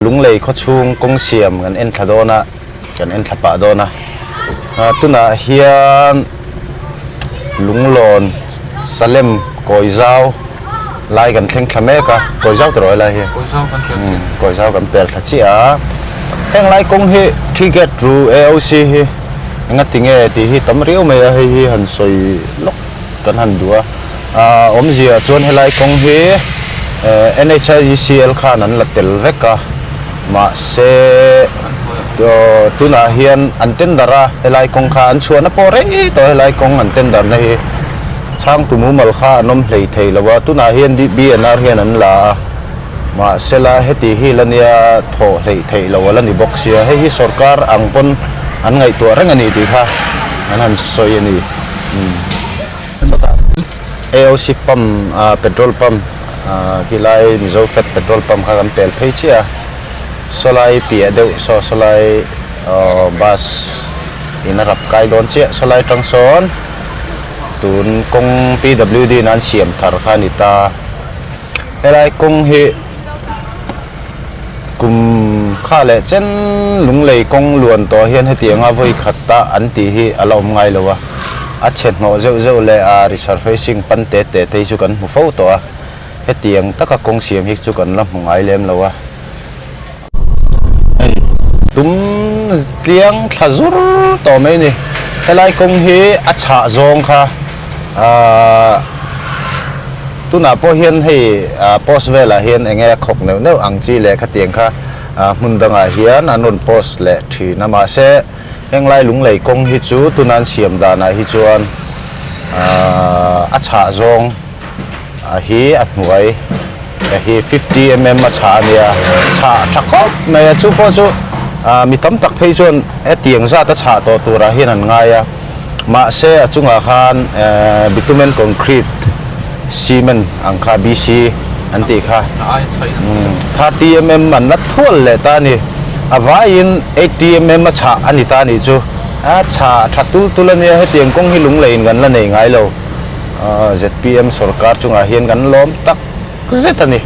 Lunglei khawchhung kawng siam kan en thla dawn a, kan en thla pah dawn a. Tunah hian Lunglawn, Salem, Kawizau lai kan thleng thla mek a, Kawizau tawrh a helai hi. Kawizau kan per chiah. Umm, Kawizau kan per thla chiah a. Heng lai kawng hi Three Gate Ru AOC hi enga ti nge tih hi tam riau mai a, hei hi han sawi lawk kan han duh a, aa awmzia chuan helai kawng hi ehh NHIGCL khan an la tel vek a, mahse aw tunah hian an tender a helai kawng kha an chhuahna pawh rei tawh a helai kawng an tender na hi chhang tu mumal kha an awm hlei thei lo a, tunah hian DBNR hian an la a, mahsela heti hi la nia thawh hleih theih lo a la ni bawk sia, hei hi sorkar ang pawn an ngaihtuah reng a ni tih kha an han sawi a ni. AOC pump ah petrol pump ah helai mizo fat petrol pump kha kan pel phei chiah a sawlai piah deuh saw sawlai aww bus in a rap kai dawn chiah sawlai tang sawn tun kawng pwd in an siam thar kha a ni ta helai kawng hi. Kum kha leh chen lunglei kawng luan tawh hian heti anga vawi khat ta an tih hi a la awm ngai lo a, a chhenhmawh zeuh zeuh leh a resurfacing pan te te te hi chu kan hmu fo tawh a, heti ang taka kawng siam hi chu kan la hmu ngai lem lo a. Hei tum tliang thla zur tawh mai a ni, helai kawng hi a chhah zawng kha. Ahh tunah pawh hian hei ahh post velah hian eng nge a khawk neuh neuh ang chi lehkha tiang kha ahh hmun dangah hian an rawn post leh thin a mahse henglai lunglei kawng hi chu tuna an siam danah hi chuan ahh a chhah zawng. a hi a hnuai a hi fifty mm a chhah a nia chhah a tha khawp mai a chu pawh chu ah mi tam tak phei chuan hetiang zat a chhah tawh turah hian an ngai a mahse a chungah khan eh bitumen concrete cement ang kha bc an tih kha thirty mm an la thual leh ta a ni a vaiin eighty mm a chhah a ni ta a nih chu a chhah a tha tul tul a nia hetiang kawng hi lungleiin kan la nei ngai lo. zpm sawrkar chungah hian kan lawm tak zet a ni.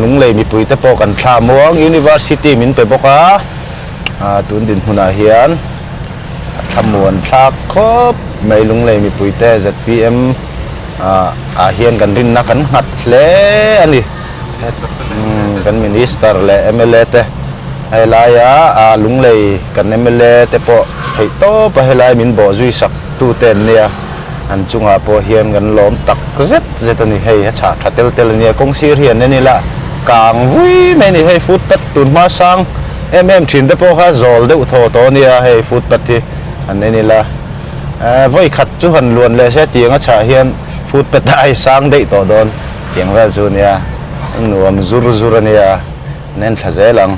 Lunglei mipui te pawh kan thla muang University min pe bawk a, tun dinhmunah hian a thlamuan thlak khawp mai Lunglei mipui te zpm ah hian kan rinna kan nghat hle a ni. Kan Minister leh mla te helaia Lunglei kan mla te pawh theih tawpa helai min bawhzui sak. tute an nia an chungah pawh hian kan lawm tak zet zet a ni hei a chhah tha tel tel a nia kawng sir hi an en ila kang vui mai a ni hei footpath tun hma sang em em thin te pawh kha zawl deuh thaw tawh a nia hei footpath hi an en ila eh vawi khat chu han luan leh se a tiang a chhah hian footpath a ai sang daih tawh dawn tiang vel chu a nia nuam zur zur a nia an en thla zel ang.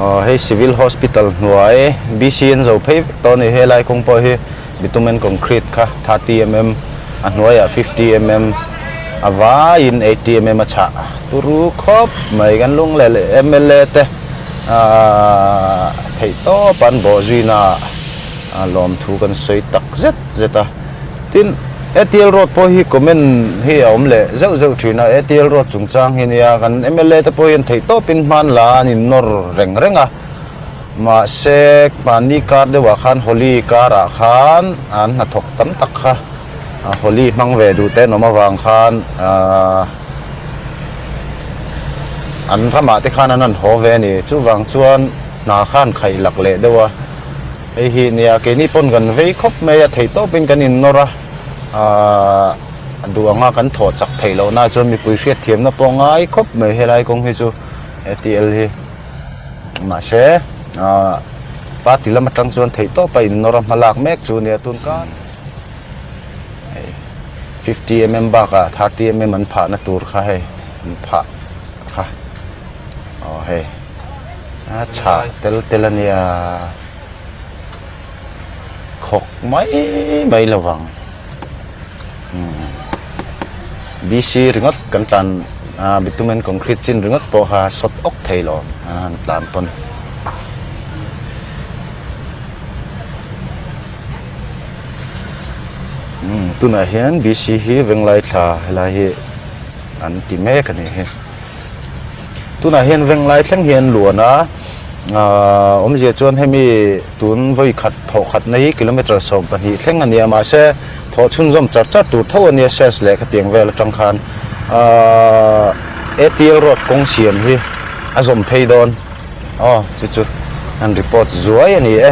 Hei Civil Hospital hnuai BCN zo phei vek tawh a ni. Helai kawng pawh hi bitumen concrete kha thirty mm a hnuaiah fifty mm a vaiin eighty mm a chhah turu khawp mai. Kan lung leh leh mla te theih tawp an bawhzuina lawmthu kan sawi tak zet zet a. Tin, ATL Road pawh hi comment hi a awm leh zeuh zeuh thin a, ATL Road chungchang hi nia kan mla te pawh hian theih tawpin hman la an innawr reng reng a, mahse mahni kar deuhah khan Holi karah khan an hnathawk tam tak kha Holi hmang ve duh te an awm avang khan an ramah te khan an han haw ve a ni, chuvang chuan hna khan khaih lak leh deuh a. Hei hi nia, keini pawn kan vei khawp mai a, thei tawp in kan in nawr a, a duh anga kan thawh chak theih loh nai chuan mipui hriatthiam na pawh a ngai khawp mai helai kawng hi chu he tl hi, mahse party lam atang chuan thei tawp a in nawr a hmalak mek chu nia tun kan hei fifty mm bak ah thirty mm an phah na tur kha hei an phah kha aw hei. chhak tel tel a nia khawk mai mai lo vang BC ringawt kan tlan bitumen concrete chin ringawt pawh kha sawt awk thei lo an tlan pawn tunah hian BC hi venglai thla helai hi an ti mek a nih hi tunah hian veng lai thleng hi an luan a aaa awm zia chuan hemi tun vawi khat thawh khat na hi kilometre sawm pahnih thleng a nia mahse thawh chhunzawm char char tur tho a nia sales leh khatiang vel atang khan aaa APL road kawng siam hi a zawm phei dawn aw chu chu an report zuai a ni e.